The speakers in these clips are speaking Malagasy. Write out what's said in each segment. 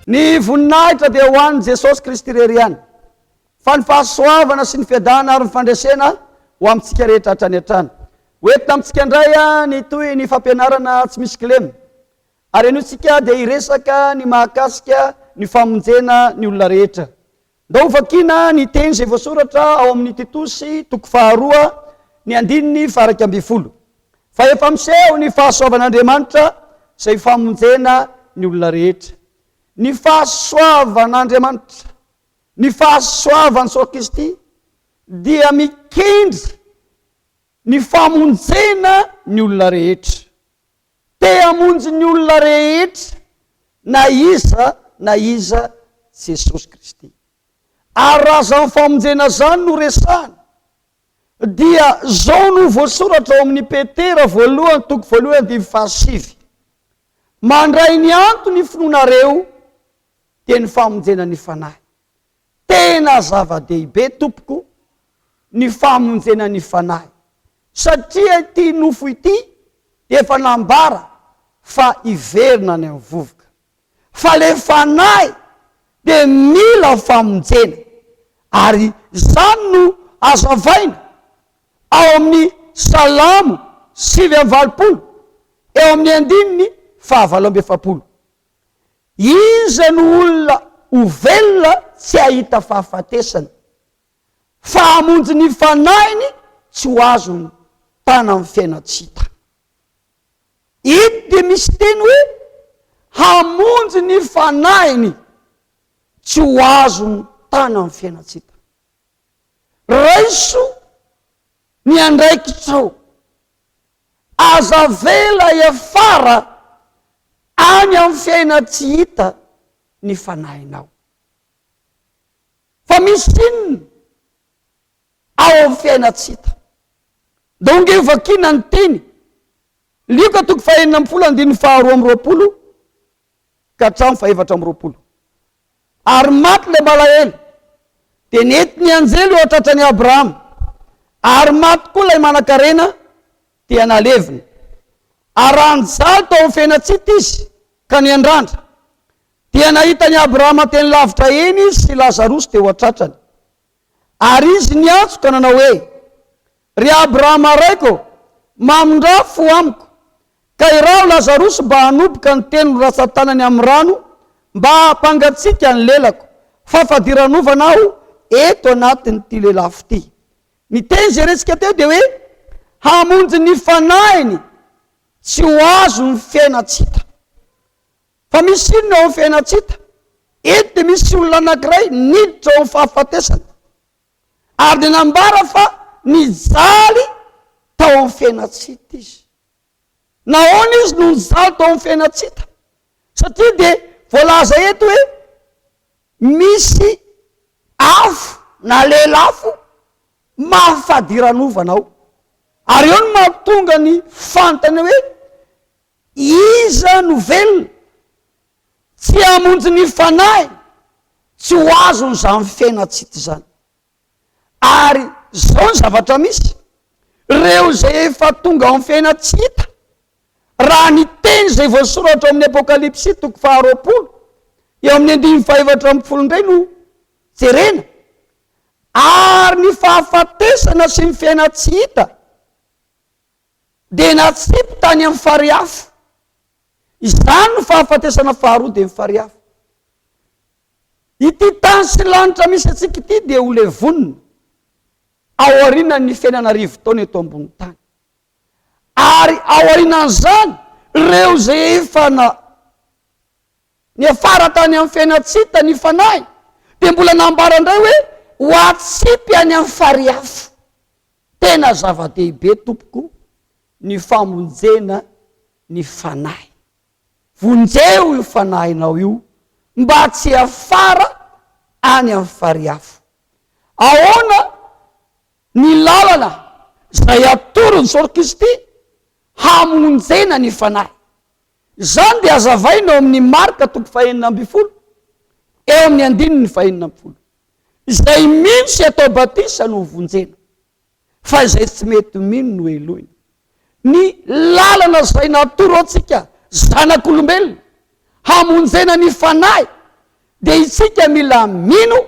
Ny voninahitra dia ho an'i Jesosy Kristy irery ihany, fa ny fahasoavana sy ny fiadana ary ny fandresena ho amintsika rehetra hatrany hatrany. Ho entina amintsika indray ny tohin'ny fampianarana tsy misy kilema, ary anio isika dia hiresaka ny mahakasika ny famonjena ny olona rehetra. Ndao ho vakiana ny teny izay voasoratra ao amin'ny Titosy toko faharoa ny andininy faharaika ambin'ny folo, Fa efa miseho ny fahasoavan'Andriamanitra izay famonjena ny olona rehetra. Ny fahasoavan'Andriamanitra, ny fahasoavan'i Soa Kristy dia mikendry ny famonjena ny olona rehetra. Te hamonjy ny olona rehetra na iza na iza Jesosy Kristy. Ary raha izany famonjena izany no resahina, dia izao no voasoratra ao amin'ny Petera voalohany toko voalohany andivo fahasivy, Mandray ny antony ny finoanareo, dia ny famonjena ny Fanahy. Tena zava-dehibe tompoko ny famonjena ny fanahy satria ity nofo ity dia efa nambara fa hiverina any amin'ny vovoka. Fa ilay fanahy dia mila famonjena ary izany no hazavaina ao amin'ny Salamo sivy amby valopolo eo amin'ny andininy fahavalo amby efapolo. Iza no olona ho velona tsy hahita fahafatesana? Fa hamonjy ny fanahiny tsy ho azony tana amin'ny fiainan-tsy-hita. Eto dia misy teny hoe hamonjy ny fanahiny tsy ho azony tana amin'ny fiainan-tsy-hita. Raiso ny andraikitrao. Aza avela hiafara any amin'ny fiaina tsy hita ny fanahinao. Fa misy inona ao amin'ny fiaina tsy hita? Dia hoy ange vakiana ny teny, Lioka toko fahenina ambin'ny folo andininy faharoa amby roapolo, ka hatramin'ny fahefatra amby roapolo. Ary maty ilay malahelo, dia nety ny anjely eo an-tratran'i Abrahama, ary maty koa ilay manankarena, dia nalevina. Ary raha nijaly tao amin'ny fiainantsita izy ka niandrandra, dia nahita an'i Abrahama teny lavitra eny izy sy Lazarosy teo an-tratrany. Ary izy niantso ka nanao hoe, Ry Abrahama raiko ô, mamindrà fo amiko, ka iraho Lazarosy mba hanoboka ny teniny ratsan-tanany amin'ny rano mba hampangatsiaka ny lelako, fa fadiranovana aho eto anatin'ity lelafo ity. Ny teny izay resika teo dia hoe hamonjy ny fanahiny tsy ho azon'ny fiainan-tsy hita. Fa misy inona eo amin'ny fiainana tsy hita? Eto dia misy olona anankiray niditra ao amin'ny fahafatesana, ary dia nambara fa nijaly tao amin'ny fiainana tsy hita izy. Nahoana izy no nijaly tao amin'ny fiainana tsy hita? Satria dia voalaza eto hoe misy afo na lelafo mafy fadiranovana ao. Ary eo no mahatonga ny fanontaniana hoe Iza no velona tsy hamonjy ny fanahiny tsy ho azony izany fiainan-tsita izany? Ary izao ny zavatra misy, ireo izay efa tonga ao amin'ny fiainan-tsita, raha ny teny izay voasoratra ao amin'ny Apokalypsy toko faharoapolo eo amin'ny andininy fahefatra ambin'ny folo indray no jerena, ary ny fahafatesana sy ny fiainan-tsy hita, dia natsipy tany amin'ny fary afo. Izany no fahafatesana faharoa dia ny fary afo. Ity tany sy lanitra misy antsika ity dia ho levonina ao aorianan'ny fiainana arivo taona eto ambony tany. Ary ao aorianan'izany, ireo izay efa na niafara tany amin'ny fiainantsita ny fanahy dia mbola nambara indray hoe ho atsipy any amin'ny fary afo. Tena zava-dehibe tompoko ny famonjena ny fanahy. Vonjeo io fanahinao io mba tsy hiafara any amin'ny farihy afo. Ahoana ny lalana izay atoron'i Jesoa Kristy hamonjena ny fanahy? Izany dia azavaina ao amin'ny Marka toko fahenina ambin'ny folo, eo amin'ny andininy fahenina ambin'ny folo. Izay mino sy atao batisa no hovonjena, fa izay tsy mety mino no helohina. Ny lalana izay natoro antsika zanak'olombelona hamonjena ny fanahy dia itsika mila mino,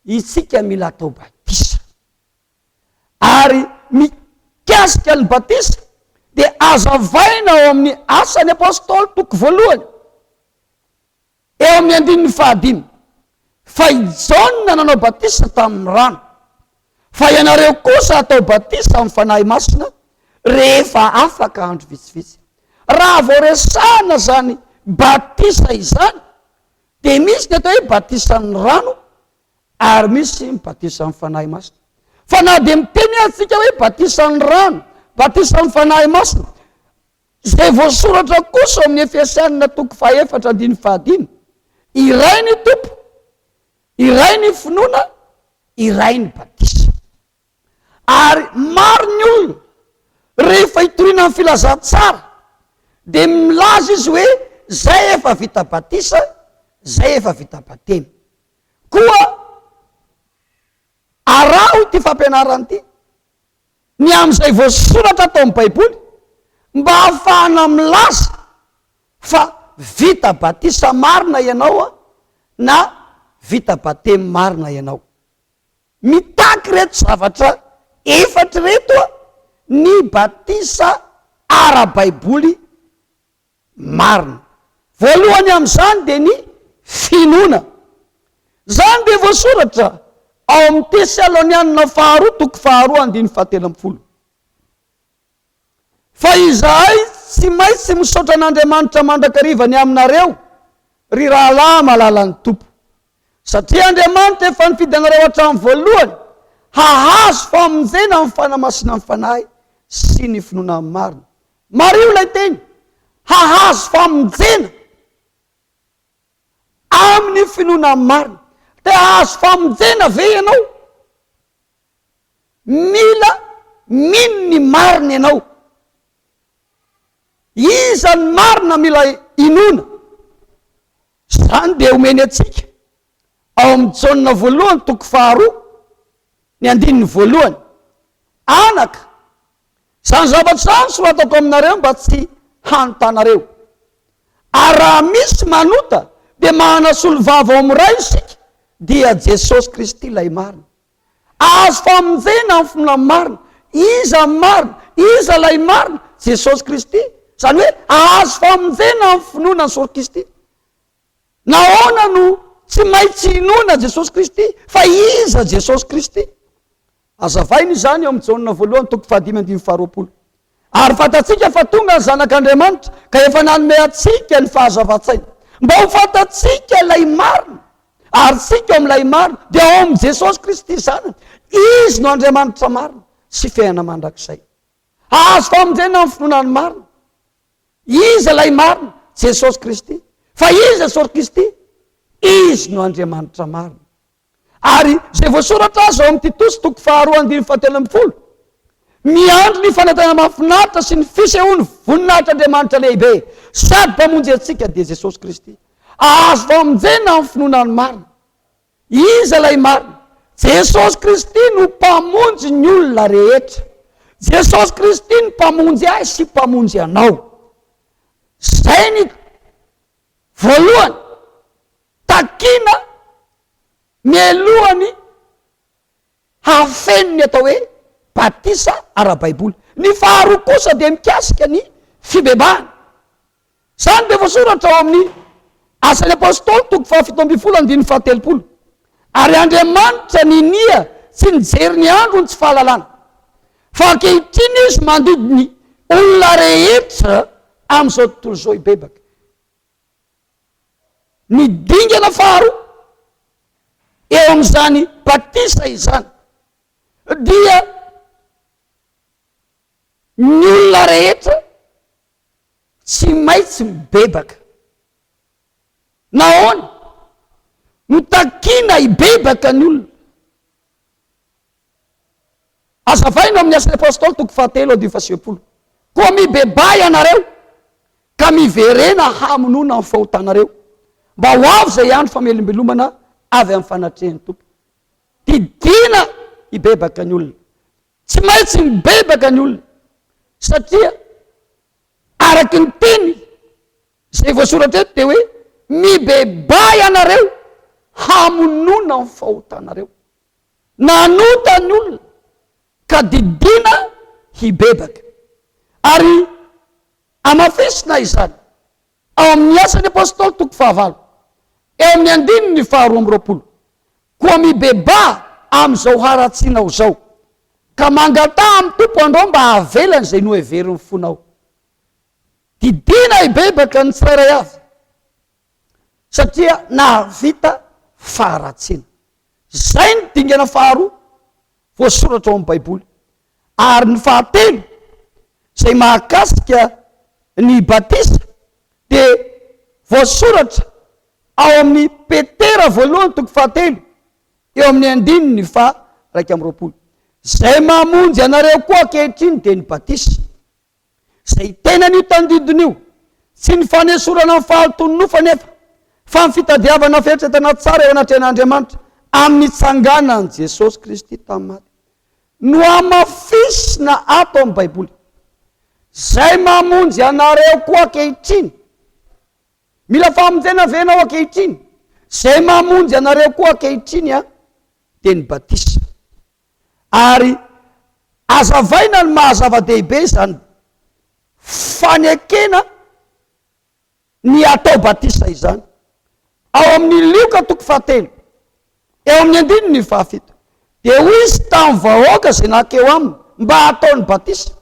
itsika mila atao batisa. Ary mikasika ny batisa dia azavaina ao amin'ny Asan'ny Apostoly toko voalohany. Eo amin'ny andininy fahadimy, Fa i Jaona nanao batisa tamin'ny rano, fa ianareo kosa hatao batisa amin'ny Fanahy Masina rehefa afaka andro vitsivitsy. Raha vao resahina izany batisa izany, dia misy ny atao hoe batisan'ny rano ary misy ny batisan'ny Fanahy Masina. Fa na dia miteny aza isika hoe batisan'ny rano, batisan'ny Fanahy Masina, Izay voasoratra kosa ao amin'ny Efesianina toko fahaefatra andininy fahadimy, Iray ny Tompo, iray ny finoana, iray ny batisa. Ary maro ny olona rehefa hitoriana ny filazantsara dia milaza izy hoe zay efa vita batisa, zay efa vita batemy. Koa araho ity fampianarana ity. ny amin'izay voasoratra ato amin'ny Baiboly mba hahafahana milaza fa vita batisa marina ianao na vita batemy marina ianao. Mitaky ireto zavatra efatra ireto ny batisa ara-baiboly marina. Voalohany amin'izany dia ny finoana. Izany dia voasoratra ao amin'ny Tesalonianina faharoa toko faharoa andininy fahatelo ambin'ny folo. Fa izahay tsy maintsy misaotra an'Andriamanitra mandrakariva ny aminareo, ry rahalahy malalan'ny Tompo, satria Andriamanitra efa nifidy anareo hatramin'ny voalohany hahazo famonjena amin'ny fanamasinan'ny Fanahy sy ny finoana marina. Mariho ilay teny, hahazo famonjena amin'ny finoana marina. Te hahazo famonjena ve ianao? Mila mino ny marina ianao. Iza ny marina mila inoana? Izany dia omeny antsika ao amin'ny Jaona voalohany toko faharoa ny andininy voalohany. Anaka, Izany zavatra izany soratako aminareo mba tsy hanotanareo. Ary raha misy manota dia manana solovava ao amin'ny Ray isika, dia Jesosy Kristy ilay marina. Azo famonjena amin'ny finoana marina. Iza ny marina? Iza ilay marina? Jesosy Kristy. Izany hoe azo famonjena amin'ny finoana ny Sorokisty. Nahoana no tsy maintsy inoana an'i Jesosy Kristy, fa iza Jesosy Kristy? Hazavainy izany ao amin'ny Jaona voalohany toko fahadimy andininy faharoapolo. Ary fantatsika fa tonga ny Zanak'Andriamanitra ka efa nanome antsika ny fahazavan-tsaina, mba ho fantatsika ilay marina, ary isika ao amin'ilay marina dia ao amin'i Jesosy Kristy Zanany. Izy no Andriamanitra marina sy fiainana mandrakizay. Hahazo famondrena amin'ny finoana ny marina. Iza ilay marina? Jesosy Kristy. Fa iza Jesosy Kristy? Izy no Andriamanitra marina. Ary izay voasoratra aza ao amin'ny Titosy toko faharoa andininy fahatelo ambin'ny folo, miandry ny fanantenana mahafinaritra sy ny fisehoan'ny voninahitr'Andriamanitra lehibe sady Mpamonjy antsika dia Jesosy Kristy. Azo famonjena amin'ny finoana ny marina. Iza ilay marina? Jesosy Kristy no Mpamonjy ny olona rehetra. Jesosy Kristy no Mpamonjy ahy sy Mpamonjy anao. Izay ny voalohany takiana mialohan'ny hafeno ny atao hoe batisa ara-baiboly. Ny faharoa kosa dia mikasika ny fibebahana. Izany dia voasoratra ao amin'ny Asan'ny Apostoly toko fahafito ambin'ny folo andininy fahatelopolo, Ary Andriamanitra ninia tsy nijery ny androny tsy fahalalana, fa ankehitriny Izy mandidy ny olona rehetra amin'izao tontolo izao hibebaka. Ny dingana faharoa eo amin'izany batisa izany dia Ny olona rehetra tsy maintsy mibebaka. Nahoana no takiana hibebaka ny olona? Azavaina ao amin'ny Asan'ny Apostoly toko fahatelo andinin'ny faha sivy ambin'ny folo. Koa mibebaha ianareo ka miverena hamonoana ny fahotanareo, mba ho avy izay andro famelombelomana avy amin'ny fanatrehan'ny Tompo. Didiana hibebaka ny olona. Tsy maintsy mibebaka ny olona satria araky ny teny izay voasoratra eto dia hoe mibebaha ianareo hamonoana ny fahotanareo. Nanota ny olona ka didiana hibebaka. Ary hamafisina izany Ao amin' ny Asan' ny Apôstôly toko fahavalo, eo amin' ny andininy faharoa amby roapolo, Koa mibebaha amin' izao haratsianao izao, ka mangataha amin' ny Tompo androa mba hahavelany izay noheverin' ny fonao. Didiana hibebaka ny tsirairay avy, satria nahavita faharatsiana. Izay no dingana faharoa voasoratra ao amin' ny Baiboly. ary ny fahatelo izay mahakasika ny batisa dia voasoratra ao amin'ny Petera voalohany toko fahatelo eo amin'ny andininy faha iraika amby roapolo, Izay mamonjy anareo koa ankehitriny dia ny batisa. Izay tena an'io tandidona io, tsy ny fanesorana ny fahalotoan'ny nofo anefa, fa ny fitadiavana fieritreretana tsara eo anatrehan'Andriamanitra amin'ny nitsanganan'i Jesosy Kristy tamin'ny maty, no hamafisina ato amin'ny Baiboly. Izay mamonjy anareo koa ankehitriny. Mila famonjena ve ianao ankehitriny? Izay mamonjy anareo koa ankehitriny dia ny batisa. ary azavaina ny maha zava-dehibe izany fanekena ny hatao batisa izany. Ao amin'ny Lioka toko fahatelo, eo amin'ny andininy fahafito, dia hoy izy tamin'ny vahoaka izay nankeo aminy mba hataony batisa,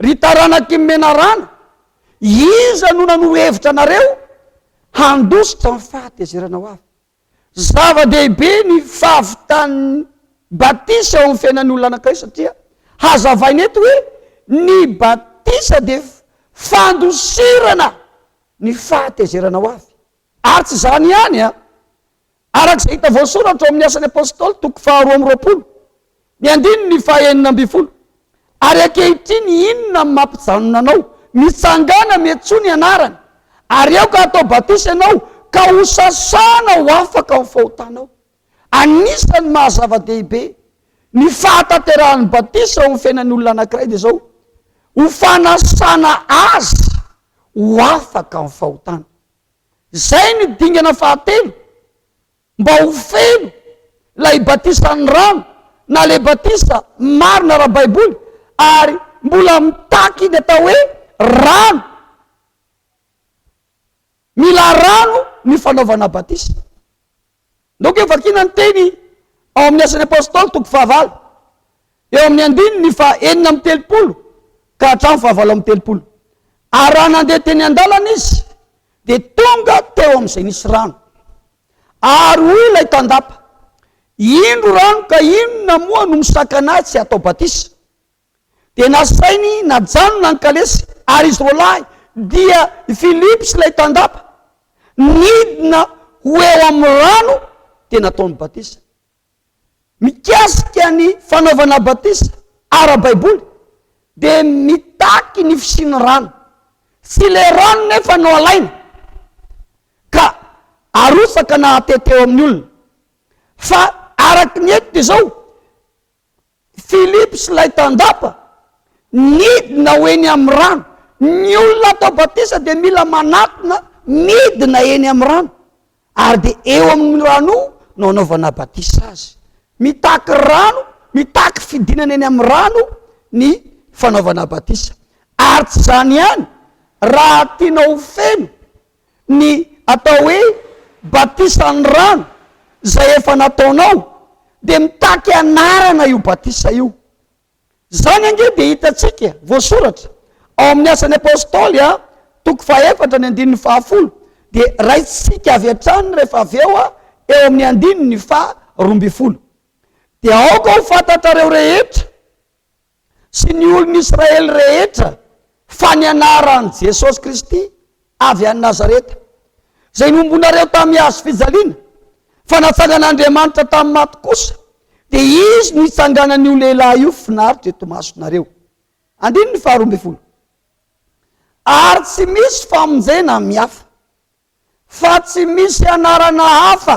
Ry taranak'i menarana, iza no nanoro hevitra anareo handositra ny fahatezerana ho avy? Zava-dehibe ny fahavitan'ny batisa ho fiainan'olona anankiray satria hazavaina eto hoe ny batisa dia fandosirana ny fahatezerana ho avy. Ary tsy izany ihany an, araka izay hita voasoratra ao amin'ny Asan'ny Apostoly toko faharoa amby roapolo, Ny andininy fahenina ambin'ny folo, Ary ankehitriny inona no mampijanona anao? Mitsangàna miantsoa ny anarany, ary aoka hatao batisa ianao ka ho sasana ho afaka amin'ny fahotanao. Anisan'ny maha-zava-dehibe ny fahatanterahan'ny batisa eo amin'ny fiainan'ny olona anankiray dia izao, ho fanasana azy ho afaka amin'ny fahotana. Izay ny dingana fahatelo Mba ho feno ilay batisan'ny rano na ilay batisa marina ara-baiboly ary mbola mitaky ny atao hoe rano. Mila rano ny fanaovana batisa. Ndeha hovakiana ny teny ao amin'ny Asan'ny Apostoly toko fahavalo. eo amin'ny andininy faha enina amby telopolo ka hatramin'ny faha valo amby telopolo. Ary raha nandeha teny an-dalana izy, dia tonga teo amin'izay nisy rano. Ary hoy ilay tandapa, Indro rano, ka inona moa no misakana ahy tsy hatao batisa? Dia nasainy najanona ny kalesy, ary izy roalahy, dia i Filipo sy ilay tandapa, nidina ho eo amin'ny rano, dia nataony batisa. mikasika ny fanaovana batisa ara-baiboly dia mitaky ny fisian'ny rano. Tsy ilay rano nefa no alaina ka arotsaka na atety eo amin'ny olona fa araka ny eto dia izao, Philippe sy ilay tandapa nidina ho eny amin'ny rano. Ny olona atao batisa dia mila manatona midina eny amin'ny rano, ary dia eo amin'ny rano io no anaovana batisa azy. Mitaky rano, mitaky fidinana eny amin'ny rano ny fanaovana batisa. Ary tsy izany ihany, raha tianao ho feno ny atao hoe batisan'ny rano izay efa nataonao dia mitaky anarana io batisa io. Izany ange dia hitantsika voasoratra ao amin'ny Asan'ny Apostoly a, toko fahefatra ny andininy fahafolo dia raisitsika avy hatrany rehefa avy eo a, eo amin'ny andininy faha roa ambin'ny folo. Dia aoka ho fantatrareo rehetra. sy ny olon'i Israely rehetra fa ny anaran'i Jesosy Kristy avy any Nazareta, izay nombonareo tamin'ny hazo fijaliana, fa natsangan'Andriamanitra tamin'ny maty kosa, dia Izy no hitsanganan'io lehilahy io finaritra eto imasonareo. Andininy faharoa ambin'ny folo. Ary tsy misy famonjena amin'ny hafa. fa tsy misy anarana hafa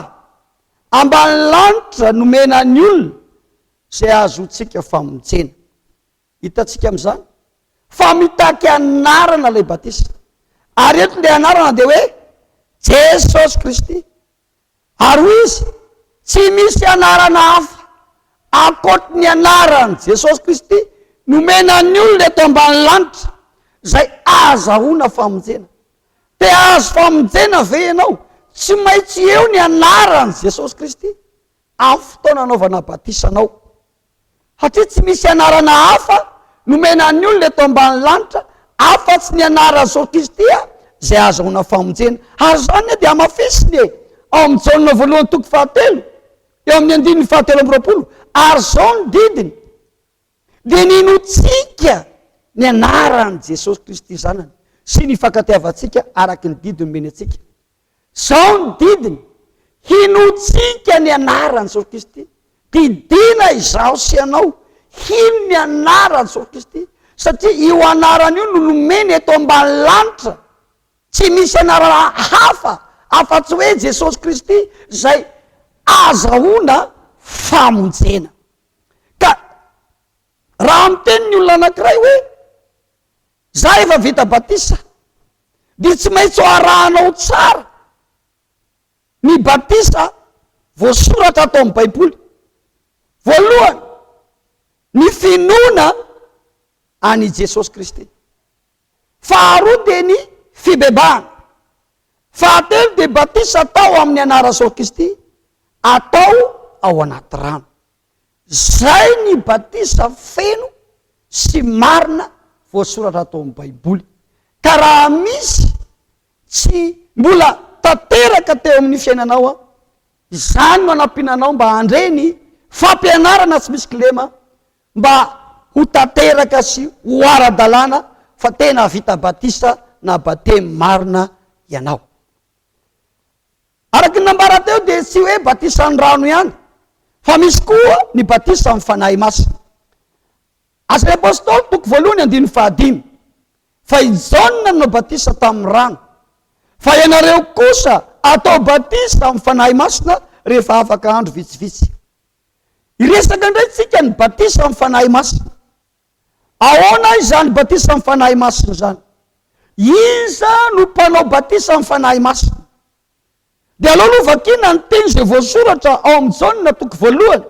ambany lanitra nomena ny olona izay ahazoantsika famonjena. Hitantsika amin'izany fa mitaky anarana ilay batisa, ary eto ilay anarana dia hoe Jesosy Kristy. Ary hoy izy, Tsy misy anarana hafa ankoatry ny anaran'i Jesosy Kristy nomena ny olona eto ambany lanitra izay ahazahoana famonjena. Te hahazo famonjena ve ianao? Tsy maintsy eo ny anaran'i Jesosy Kristy amin'ny fotoana anaovana batisa anao. Satria tsy misy anarana hafa nomena ny olona eto ambany lanitra afa-tsy ny anaran'i Jesosy Kristy izay ahazoana famonjena. Ary izany anie dia hamafisiny e! Ao amin'ny Jaona voalohany toko fahatelo, eo amin'ny andininy fahatelo amby roapolo, ary izao ny didiny, Dia ninoantsika ny anaran'i Jesosy Kristy Zanany, sy ny hifankatiavantsika araka ny didy nomeny antsika. Zao ny didiny, Hinoantsika ny anaran'i Jesosy Kristy. Didiana izaho sy ianao hino ny anaran'i Jesosy Kristy, satria io anarana io no nomeny eto ambany lanitra. Tsy misy anarana hafa afa-tsy hoe Jesosy Kristy izay ahazahoana famonjena. Ka raha miteny ny olona anankiray hoe, Za efa vita batisa dia tsy maintsy ho arahanao tsara ny batisa voasoratra ato amin'ny baiboly. Voalohany, ny finoana an'i Jesosy Kristy. Faharoa dia ny fibebahana. Fahatelo dia batisa atao amin'ny anaran'i Jesosy Kristy atao ao anaty rano. Izay ny batisa feno sy marina voasoratra tao amin'ny Baiboly. Ka raha misy tsy mbola tanteraka teo amin'ny fiainanao, izany no hanampiana anao mba handre ny fampianarana tsy misy kilema mba ho tanteraka sy ho ara-dalàna fa tena vita batisa na batemy marina ianao. Araka ny nambara teo dia tsy hoe batisan'ny rano ihany fa misy koa ny batisa amin'ny Fanahy Masina. Asan'ny Apostoly toko voalohany andininy fahadimy fa i Jaona nanao batisa tamin'ny rano fa ianareo kosa atao batisa amin'ny Fanahy Masina rehefa afaka andro vitsivitsy. Hiresaka indray tsika ny batisa amin'ny Fanahy Masina. Ahoana izany batisa amin'ny Fanahy Masina izany? Iza no mpanao batisa amin'ny Fanahy Masina? Dia aleo aloha vakiana ny teny izay voasoratra ao amin'ny Jaona toko voalohany,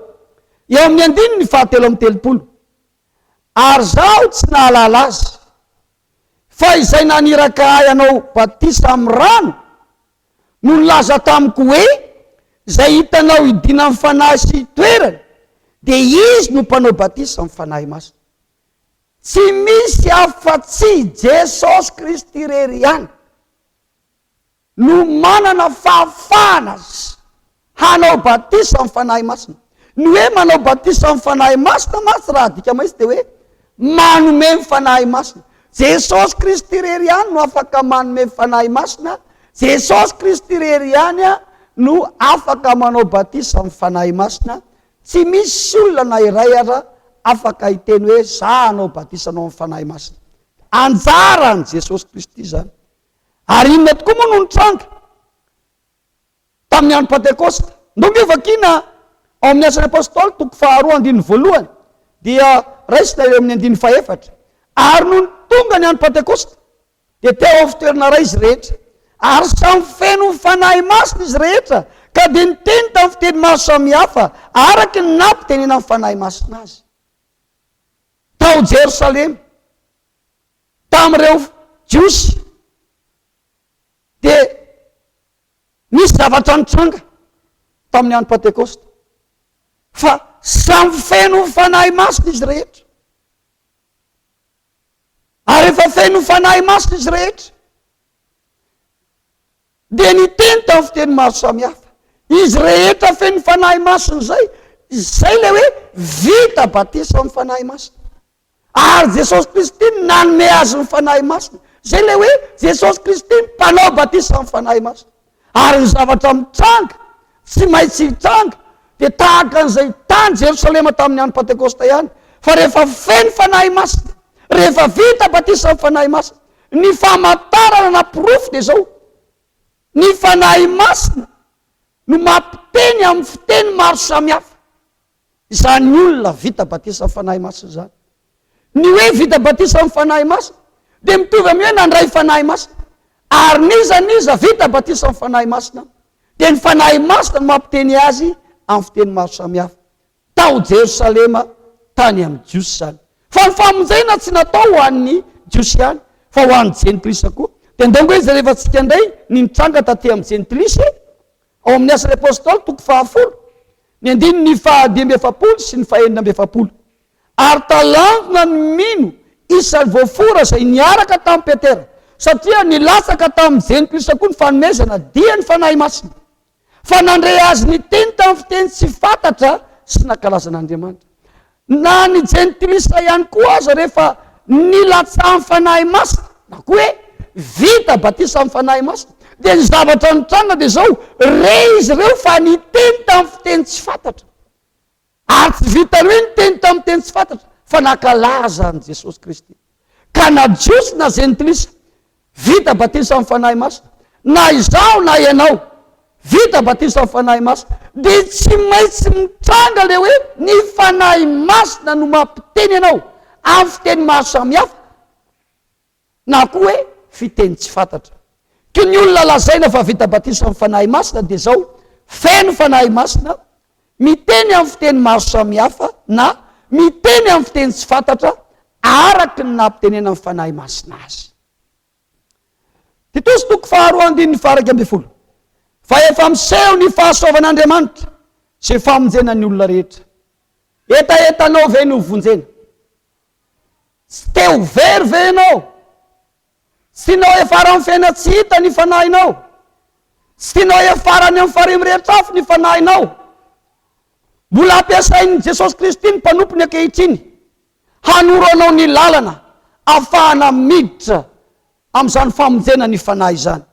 eo amin'ny andininy fahatelo amby telopolo. Ary izaho tsy nahalala azy. Fa izay naniraka ahy hanao batisa amin'ny rano no nilaza tamiko hoe, Izay hitanao hidiana amin'ny Fanahy sy hitoerany, dia izy no mpanao batisa amin'ny Fanahy Masina. Tsy misy afa-tsy i Jesosy Kristy irery ihany no manana fahafahana Hanao batisa amin'ny Fanahy Masina. Ny hoe manao batisa amin'ny Fanahy Masina mantsy raha adika maitsy dia hoe manome ny Fanahy Masina. Jesosy Kristy irery ihany no afaka manome Fanahy Masina, Jesosy Kristy irery ihany no afaka manao batisa amin'ny Fanahy Masina, tsy misy olona na iray aza afaka hiteny hoe za hanao batisa anao amin'ny Fanahy Masina. Anjaran'i Jesosy Kristy izany. Ary inona tokoa moa no nitranga? Tamin'ny andro Pantekosta. Ndao nge vakiana ao amin'ny Asan'ny Apostoly toko faharoa andininy voalohany dia raisina eo amin'ny andininy fahefatra, Ary nony tonga ny andro Pantekosta dia teo amin'ny fitoerana iray izy rehetra, ary samy feno ny Fanahy Masina izy rehetra, ka dia niteny tamin'ny fiteny maro samihafa araka ny nampitenenan'ny Fanahy Masina azy. Tao Jerosalema, tamin'ireo Jiosy. Dia nisy zavatra nitranga tamin'ny andro Pantekosta, fa samy feno ny Fanahy Masina izy rehetra. Ary efa feno ny Fanahy Masina izy rehetra. Dia niteny tamin'ny fiteny maro samihafa. Izy rehetra feno ny Fanahy Masina izay, izay ilay hoe vita batisa amin'ny Fanahy Masina. Ary Jesosy Kristy no nanome azy ny Fanahy Masina. Izay ilay hoe Jesosy Kristy no mpanao batisa amin'ny Fanahy Masina. Ary ny zavatra mitranga, tsy maintsy hitranga, dia tahaka an'izay tany Jerosalema tamin'ny andro Pantekosta ihany, fa rehefa feno Fanahy Masina, rehefa vita batisa amin'ny Fanahy Masina, ny famantarana na porofo dia izao, ny Fanahy Masina no mampiteny amin'ny fiteny maro samihafa. izany olona vita batisa amin'ny Fanahy Masina izany. Ny hoe vita batisa amin'ny Fanahy Masina dia mitovy amin'ny hoe nandray Fanahy Masina. Ary n'iza n'iza vita batisa amin'ny Fanahy Masina dia ny Fanahy Masina no mampiteny azy amin'ny fiteny maro samihafa. Tao Jerosalema tany amin'ny Jiosy izany. Fa ny famonjena tsy natao ho an'ny Jiosy ihany fa ho an'ny Jentilisa koa. Dia ndao ange jereva antsika indray ny nitranga taty amin'ny Jentilisa e! Ao amin'ny Asan'ny Apôstôly, toko fahafolo, ny andininy fahadimy amby efapolo sy ny fahenina amby efapolo, Ary talanjona ny mino isan'ny voafora izay niaraka tamin'i Petera, satria nilatsaka tamin'ny Jenotiosy avokoa ny fanomezana dia ny Fanahy Masina, fa nandre azy niteny tamin'ny fiteny tsy fantatra sy nankalaza an'Andriamanitra. Na ny jentilisa ihany koa aza rehefa nilatsahan'ny Fanahy Masina, na koa hoe vita batisa amin'ny Fanahy Masina, dia ny zavatra nitranga dia izao, re izy ireo fa niteny tamin'ny fiteny tsy fantatra. Ary tsy vitan'ny hoe niteny tamin'ny teny tsy fantatra, fa nankalaza an'i Jesosy Kristy. Ka na Jiosy na Jentilisa, vita batisa amin'ny Fanahy Masina. Na izaho na ianao, vita batisa amin'ny Fanahy Masina. Dia tsy maintsy mitranga ilay hoe ny Fanahy Masina no mampiteny anao amin'ny fiteny maro samihafa, na koa hoe fiteny tsy fantatra. Ka ny olona lazaina fa vita batisa amin'ny Fanahy Masina dia izao, feno Fanahy Masina, miteny amin'ny fiteny maro samihafa na miteny amin'ny fiteny tsy fantatra araka ny nampitenenan'ny Fanahy Masina azy. Titosy toko faharoa andininy faharaiky ambin'ny folo. Fa efa miseho ny fahasoavan'Andriamanitra sy famonjena ny olona rehetra. Hetahetanao ve ny hovonjena? Tsy te ho very ve ianao? Tsy tianao hiafara amin'ny fiainana tsy hita ny fanahinao. Tsy tianao hiafara any amin'ny farihy mirehitra afo ny fanahinao. Mbola ampiasain'i Jesosy Kristy ny mpanompony ankehitriny hanoro anao ny lalana afahana miditra amin'izany famonjena ny fanahy izany.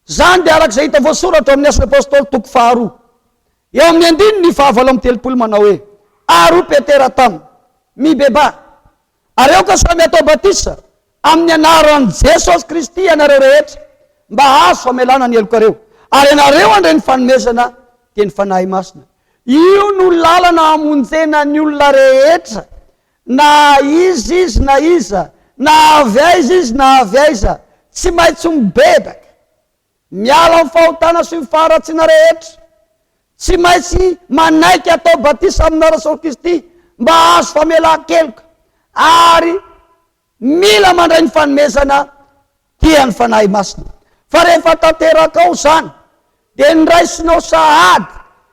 Izany dia araka izay hita voasoratra ao amin'ny Asan'ny Apostoly toko faharoa, eo amin'ny andininy fahavalo amby telopolo manao hoe, Ary hoy Petera taminy, Mibebaha, ary aoka samy hatao batisa amin'ny anaran'i Jesosy Kristy ianareo rehetra mba hahazo famelana ny helokareo, ary ianareo handre ny fanomezana dia ny Fanahy Masina. Io no lalana hamonjena ny olona rehetra Na iza izy na iza, na avy aiza izy na avy aiza, tsy maintsy mibebaka, miala amin'ny fahotana sy ny faharatsiana rehetra, tsy maintsy manaiky atao batisa amina Rasoaly Kristy mba hahazo famelan-keloka, ary Mila mandray ny fanomezana dia ny Fanahy Masina. Fa rehefa tanterakao izany dia niraisinao sahady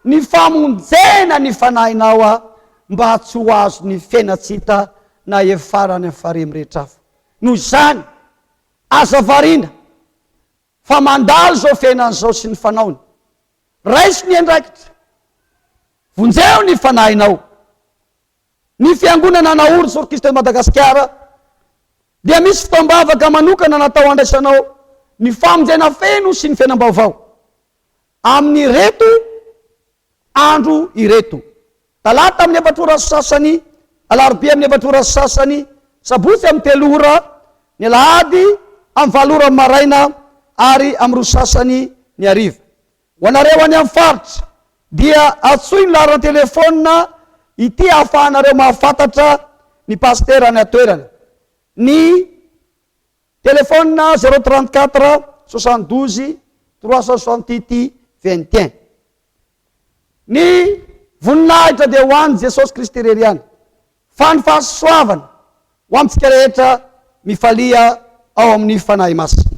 ny famonjena ny fanahinao mba tsy ho azon'ny fena tsy hita na efara any amin'ny farihy mirehitra hafa. Noho izany, aza variana fa mandalo izao fiainana izao sy ny fanaony. Raiso ny andraikitra. Vonjeo ny fanahinao. Ny Fiangonana naory Sorokista eto Madagasikara dia misy fotoam-bavaka manokana natao handraisanao ny famonjena feno sy ny fiainam-baovao amin'ireto andro ireto, Talata amin'ny efatra ora sy sasany, Alarobia amin'ny efatra ora sy sasany, Sabotsy amin'ny telo ora, ny Alahady amin'ny valo ora maraina ary amin'ny roa sy sasany ny hariva. Ho anareo any amin'ny faritra dia antsoy ny laharan'ny telefaonina ity ahafahanareo mahafantatra ny pasitera any an-toerana, ny telefaonina zéro trente quatre soixante douze trois cent soixante huit vingt et un. Ny voninahitra dia ho an'i Jesosy Kristy irery ihany, fa ny fahasoavana ho amintsika rehetra mifalia ao amin'ny Fanahy Masina.